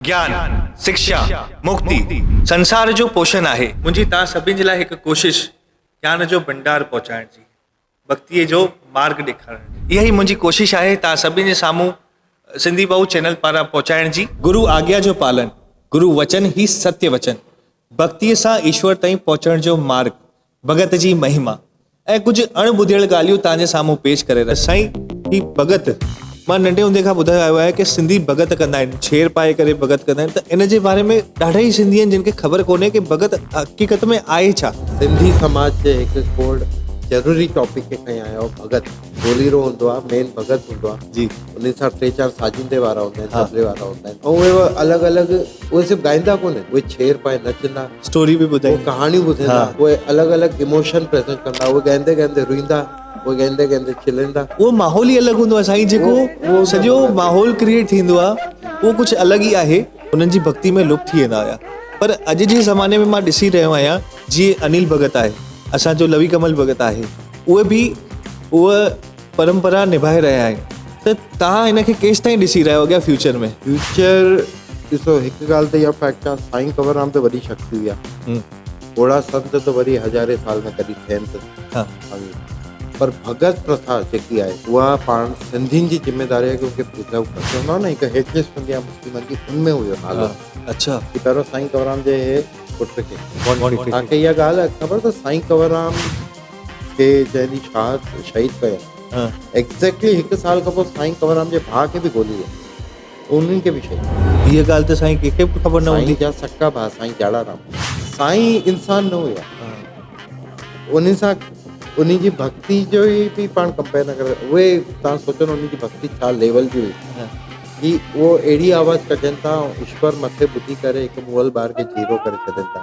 گيان، سکشا، مڪتي، سنسار جو پوشن آهي. منهنجي توهان سڀني جي لاء هڪ ڪوشش گيان جو ڀنڊار پهچائڻ جي، مڪتيء جو مارڳ ڏيکارڻ جي. اها ئي منهنجي ڪوشش آهي توهان سڀني جي سامهون سنڌي ٻئو چينل پاران پهچائڻ جي. گرو آگيا جو پالڻ، گرو وچن هي ستيه وچن، ڀڳتيء سان ايشور تائين پهچڻ جو مارڳ، ڀڳت جي مهما ۽ ڪجهه اڻ ٻڌيل ڳالهيون توهان جي سامهون پيش ڪري رهيا سائين هي ڀڳت مان ننڍي هوندي کان ٻڌايو آيو آهي ڪي سنڌي ڀڳت ڪندا آهن ڇير پائي ڪري ڀڳت ڪندا آهن ته ان جي باري ۾ ڏاڍا ئي سنڌي آهن جن کي خبر ڪونهي ڪي ڀڳت حقيقت ۾ آهي ڇا سنڌي سماج جي هڪ کوڙ ضروري ٽاپڪ کي کڻي آيا آهيو ڀڳت. ڍوليرو هوندو آهي مين ڀڳت هوندو آهي جي انهن سان ٽي چار ساجندي وارا هوندا آهن طبلي وارا هوندا آهن ۽ اهي الڳ الڳ اهي صرف گائيندا ڪونه آهن اهي ڇير پائي نچندا اسٽوري به ٻڌائي اهي ڪهاڻيون ٻڌائيندا اهي الڳ الڳ ايموشن پريزنٽ ڪندا اهي گائيندي گائيندي روئيندا اهي گائيندي گائيندي کلندا اهو ماحول ئي الڳ هوندو آهي سائين جيڪو سڄو ماحول ڪريئيٽ ٿيندو آهي اهو ڪجهه الڳ ئي آهي انهن جي ڀڳتي ۾ لپ ٿي ويندا هيا پر اڄ جي زماني ۾ مان ڏسي رهيو آهيان جي انيل ڀڳت آهي اسان جو لوي ڪمل ڀڳت آهي اهي به اهو پرمپرا نڀائي رهيا آهن ته تهان ان کي ڪيس تائين ڏسي رهيا اڳيان فيوچر ۾ فيوچر ڏسو هڪ ڳالهه ته يا فيڪٽ آهي سائين ڪنور رام ته وڏي شخصي هئا پوڙها سنت ته وري هزارين سال ۾ ڪڏهن ٿين ته اوهين پر ڀڳت پرٿا جيڪي آهي اها پاڻ سنڌين جي ذميداري آهي ڪيونڪه پرجاء ڪري چوندا آهن نه هڪ هيٺين سنڌ يا مسلمن جي ان ۾ هيو نالو اڇا جي پهريون سائين ڪنورام جي هي پٽ کي توهان کي اها ڳالهه خبر اٿس سائين ڪنورام کي جنهن ڏينهن شهاد شهيد ڪيو ايگزيڪٽلي هڪ سال کان پوء سائين ڪنورام جي ڀاء کي به گولي لڳي انهن کي به شيء. هيء ڳالهه ته سائين ڪنهن کي به خبر نه هوندي. سائين جا سڪا ڀاء سائين جاڙا رام سائين انسان نه هيا. انهن سان انهن جي ڀڳتي جو ئي به پاڻ ڪمپيئر نه ڪري سگهجي. اهي توهان سوچيو نه انهن جي ڀڳتي ڇا ليول جي هئي. هي اهو اهڙي آواز ڪڍين ٿا ۽ ايشور مٿي ٻڌي ڪري هڪ مئل ٻار کي جيرو ڪري ڇڏين ٿا.